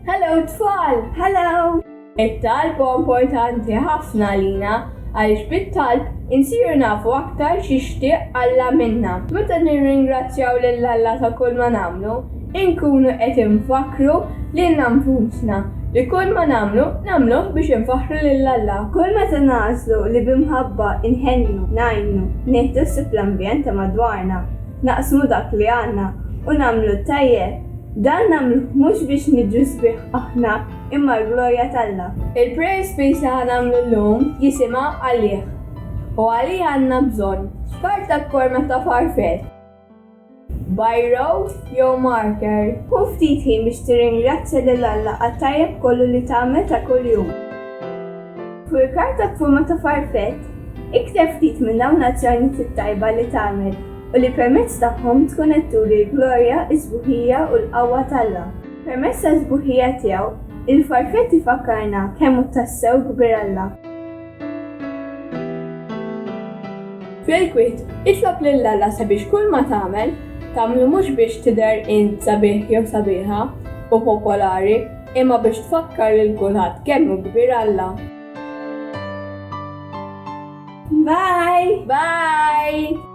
Hello tfal! Hello! It-talb huwa importanti ħafna għalina għaliex bit-talb insiru nafu aktar x'jixtieq Alla minna. Meta nirringrazzjaw lil Alla ta' kull ma nagħmlu, inkunu qed infakkru lilna nfusna li kull ma nagħmlu, nagħmluh biex infaħħru lil Alla. Kull meta nagħżlu li bi mħabba nħennu, ngħinu, nieħdu ħsieb l-ambjent ta' madwarna, naqsmu dak li għandna u nagħmlu t-tajjeb, dan nagħmluh mhux biex niġu sbieħ aħna imma għall-glorja t'Alla. Il-Prayer Space li ħa nagħmlu llum jisimha Għalih u Għalih Għandna Bżonn, f'karta b'forma ta' farfell, biro jew marker. Ħu ftit ħin biex tirringrazzja lil Alla għat-tajjeb kollu li tagħmel ta' kuljum. Fuq il-karta b'forma ta' farfett, ikteb ftit minn dawn l-azzjonijiet it-tajba li tagħmel u li permezz tagħhom tkun qed turi l-glorja, is-sbuħija u l-qawwa t'Alla. Permezz tas-sbuħija tiegħu, il-farfett ifakkarna kemm hu tassew kbir Alla. Fil-kwiet, itlob lil Alla sabiex kulma tagħmel, tagħmlu mhux biex tidher int sabiħ jew sabiħa u popolari, Imma biex tfakkar lil kulħadd kemm hu kbir Alla. Bye! Bye!